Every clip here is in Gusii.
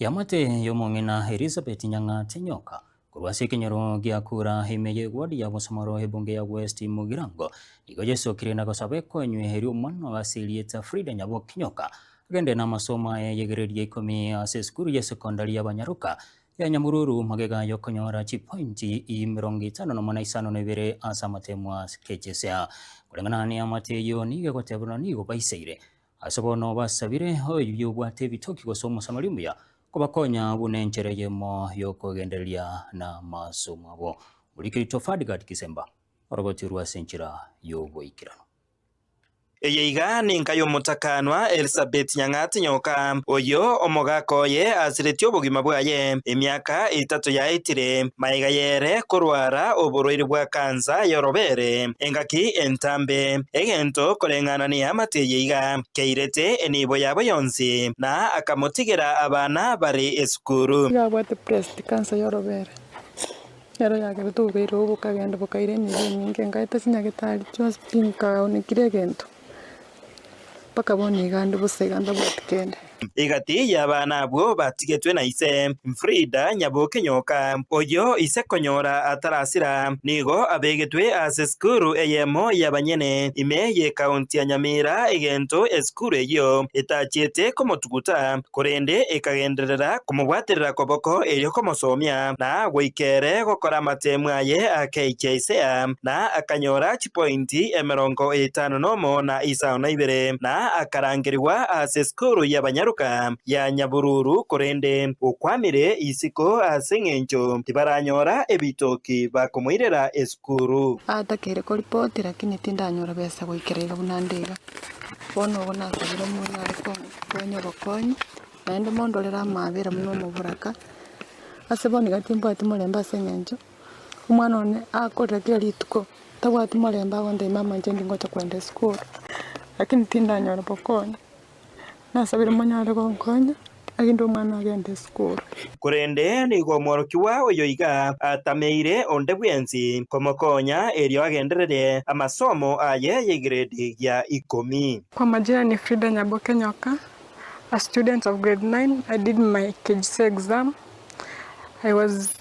Yamate y'omong'ina Elizabeth Nyang'ate Nyoka korwa ase ekenyoro gia kura ime y'eward ya Bosomoro ebunge ya West Mugirango nigo yesokire na gosaba ekonywa erio omwana oye ase erieta Frida Nyaboki Nyoka agende namasomo aye y'egere ria ikomi ase esukuru ya sekondari ya Banyaruka ya Nyamururu magega y'okonyora chipointi emerongo etano nomo na isano na ibere ase amatemo a KCSE. Koreng'ana neyamate eyio nigo egoteberwa nigo baisaire Ase bono basabire oyoyio obwate ebitoki gose Omosamaria omuya kobakonya buna enchera eyemo y'okogendereria namasomo abo. Morikereri Tofadi Gad Kisemba orogoti orwo ase enchera y'oboikeranu. Eye iga nenka y'omotakanwa Elisabeth Nyang'ati Nyoka, oyio omogaka oye asiretie obogima bwaye emiaka etato yaetire, maega y'ere korwara oborwaire bwa kansa y'orobere. Engaki entambe, egento koreng'anania amate eye iga, keirete enibo yabo yonsi, na akamotigera abana bare esukuru. Iga abwate Prest, kansa y'orobeera. Nero yagerete obobeera obo bokagenda bokaira enibo enyinge. Ngaeta chinyagetari chionsi, tinkaonekire egento. Bakaba onigande bosa iganda bwati kende. Egati y'abana abwo batigetwe na ise, Frida Nyaboke Nyoka, oyio ise konyora atarasira, nigo abegetwe ase esukuru eyemo y'abanyene ime y'ekaunti ya Nyamira egento esukuru eyio etachiete komotuguta korende ekagenderera komobwaterera koboko erio komosomia na goika ere gokora amateemu aye akaichia ise aa na akanyora pointi emerongo etano nomo na isano na ibere, na akarangerigwa ase esukuru y'abanyaroka ya Nyabululu, korende okwamire isiko ase engencho tibaranyora ebitoki bakomoirera esukuru. Aatakeire koripoti lakini tindanyora besa goikera iga buna nde iga. Bono ogo nasabire omwana are konya obokonyi, naende mondorere amaabera buna omoboraka. Ase bono iga timbwati morembe ase engencho. Omwana one akorire kera rituko tabwati morembe agontebia mama inche ndingocha kogenda esukuru lakini tindanyora bokonyi. Nasabire monyare gonkonya erinde omwana agende esukuru. Korende nigo omworokigwa oyo iga atameire onde bwensi komokonya erio agenderere amasomo aye y'egrade gia ikomi. Kwa majina ni Frida Nyaboke Nyoka, a student of grade nine, I did my KCSE exam, I was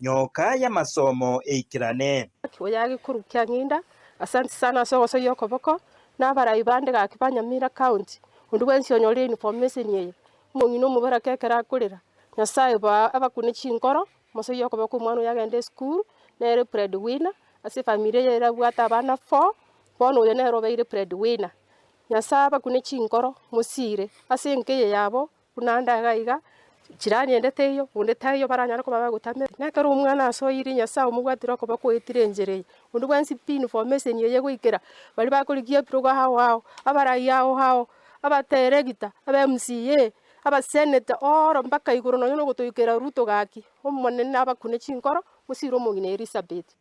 nyoka y'amasomo eikerane. Gaki oyage korukia ng'inda ase ensisano ase ogosoyia okoboko, na abarai bande gaki ba Nyamira County, onde bwensi onyorire uniform meseni eye, omong'ina omoborake ekero akorera Nyasaye bo abakune chinkoro, mosoyia okoboko omwana oyo agende esukuru, nere breadwinner ase efamiri eye erabwate abana four, bono oyo nere obeire breadwinner. Nyasaye abakune chinkoro, mosiire ase enka eye yabo. Buna ande iga iga, chirani ende teiyo, onde taiyo, baranyare koba bagotamerwa. Na ekero Omwana ase oeire Nyasae omobwatire okoba kweetire enchera eye, onde bwensi pi information eye egoikera, baria bakorigia ebirogo ao ao, abarai ao ao, abateregita, aba MCA, abaseneta, ooro mpaka igoro nonya na ogotoikera Ruto gaki, Omonene nabakune chinkoro, mosire omong'ina Elisabeth.